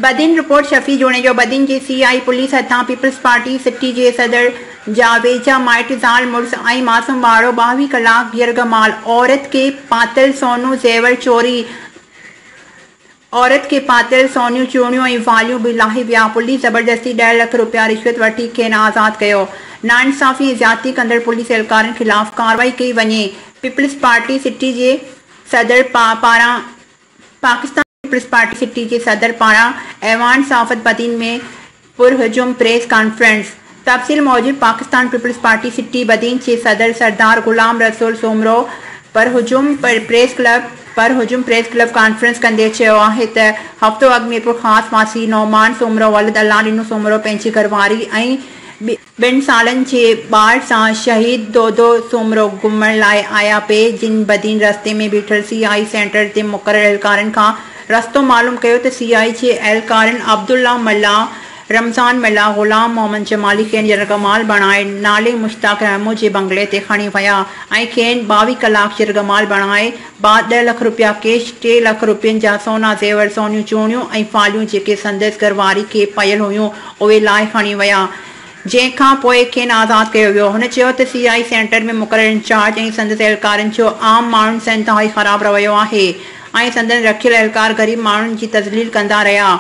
Badin, report Shafi Junejo, Badin جي C I police هٿان Peoples Party city جي صدر جا ويجها مائٽ زال مڙس ۽ معصوم ٻارڙو ٻاوهين ڪلاڪ يرغمال عورت کي پاتل سونو زيور چوري، عورت کي پاتيل سونيون چوڙيون ۽ واليون به لاهي ويا، پوليس زبردستي ڏهه لک رپيا رشوت وٺي کين آزاد ڪيو، ناانصافي ۽ زيادتي ڪندڙ پوليس اهلڪارن خلاف ڪارروائي ڪئي وڃي، پيپلز پارٽي سٽي جي صدر پاران پاڪستان پيپلز پارٽي سٽي جي صدر پاران ايوان صحافت بدين ۾ پرهجوم پريس ڪانفرنس تفصيل موجب Pakistan Peoples Party city Badin جي صدر سردار غلام رسول سومرو پرهجوم پريس ڪلب پرهجوم پريس ڪلب ڪانفرنس ڪندي چيو آهي ته هفتو اڳ ميرپورخاص واسي نعمان سومرو ولد الله ڏنو سومرو پنهنجي گهرواري ۽ ٻن سالن جي ٻار سان شهيد دودو سومرو گهمڻ لاء آيا پي جن بدين رستي ۾ بيٺل سي آء اي سينٽر جي مقرر اهلڪارن کان رستو معلوم ڪيو ته سي آء اي جي اهلڪارن عبدالله ملاح رمضان ملاح غلام محمد جمالي کين يرغمال بڻائي نالي مشتاق رحمو جي بنگلي تي کڻي ويا ۽ کين ٻاوهي ڪلاڪ يرغمال بڻائي بعد ڏهه لک رپيا ڪيش، ٽي لک رپين جا سونا زيور، سونيون چوڻيون ۽ فاليون جيڪي سندس گهرواري کي پيل هيون اهي لاهي کڻي ويا جنهن کان پوء کين آزاد ڪيو ويو. هن چيو ته سي آء اي سينيٽر ۾ مقرر انچارج ۽ سندس اهلڪارن جو عام ماڻهن سان انتهائي خراب رويو آهي ۽ سندن رکيل اهلڪار غريب ماڻهن جي تذليل ڪندا رهيا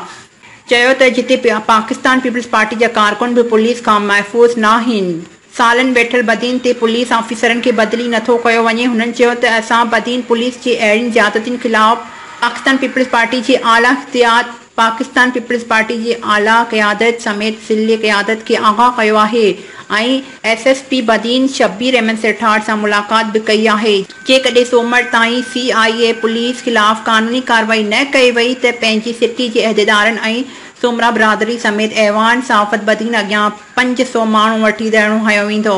چيو ته جتي پاڪستان پيپلز پارٽي جا ڪارڪن به پوليس کان محفوظ ناهن. سالن ويٺل بدين تي پوليس آفيسرن کي بدلي نه ٿو ڪيو وڃي، هنن چيو ته اسان بدين پوليس جي اهڙين زيادتين خلاف پاڪستان پيپلز پارٽي جي اعليٰ اختيات، پاڪستان پيپلز پارٽي جي اعليٰ قيادت سميت ضلعي قيادت کي آگاهه ڪيو آهي ۽ S S P Badin Shabbir Ahmed Sethar سان ملاقات به ڪئي آهي، جيڪڏهن سومر تائين سي آء اي پوليس خلاف قانوني ڪارروائي نه ڪئي وئي ته پنهنجي سٽي جي عهديدارن ۽ سومرا برادري سميت ايوان صحافت بدين اڳيان پنج سؤ ماڻهو وٺي ڌرڻو هنيو ويندو.